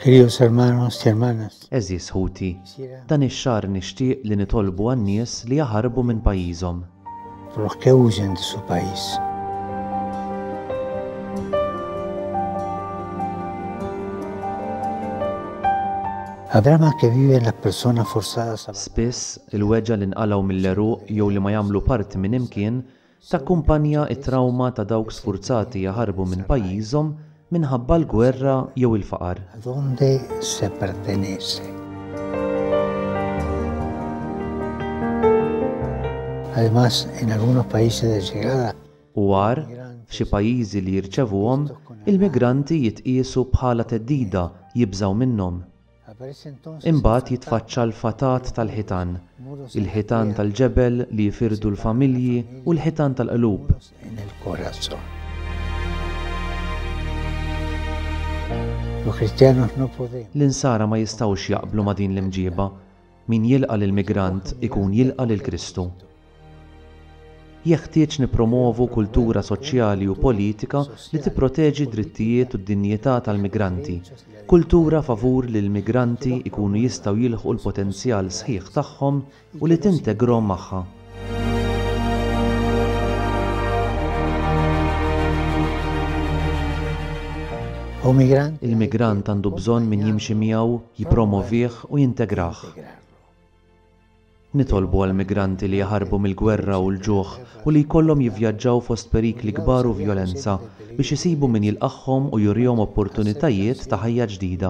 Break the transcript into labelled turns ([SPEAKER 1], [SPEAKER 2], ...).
[SPEAKER 1] Queridos hermanos y hermanas, Eżis ħuti, dan ix-xahar nixtieq li nitolbu għan-nies li jaħarbu minn pajjiżhom. por los que huyen de su país. Habrá más que viven las personas forzadas a Spiss, il-weġa li nqalgħu mill-għeruq jew li ma jagħmlu parti minn imkien Takkumpanja t-trawma ta' dawk sfurzati jaħarbu minn pajjiżhom minħabba l-gwerra jew il-faqar. A donde se pertenece? Además, en algunos países de llegada. U għar, f'xi pajjiżi li jirċevuhom, il-migranti jitqiesu bħala theddida, jibżgħu minnhom. Imbagħad jitfaċċa l-fatat tal-ħitan, il-ħitan tal-ġebel li jifirdu l-familji u l-ħitan tal-qlub. L-insara ma jistgħux jaqblu ma' din l-imġieba. Min jilqa' lill-migrant ikun jilqa' lil Kristu. Jeħtieġ nippromwovu kultura soċjali u politika li tipproteġi d-drittijiet u d-dinjità tal-migranti, kultura favur li l-migranti jkunu jistgħu jilħqu l-potenzjal sħiħ tagħhom u li tintegrhom magħha. Il-migrant għandu bżonn min jimxi miegħu, jippromovih u jintegrah. Nitolbu għal migranti li jaħarbu mill-gwerra u l-ġuħ u li jkollhom jivvjaġġaw fost perikli kbar u vjolenza biex isibu min jilqagħhom u jurihom opportunitajiet ta' ħajja ġdida.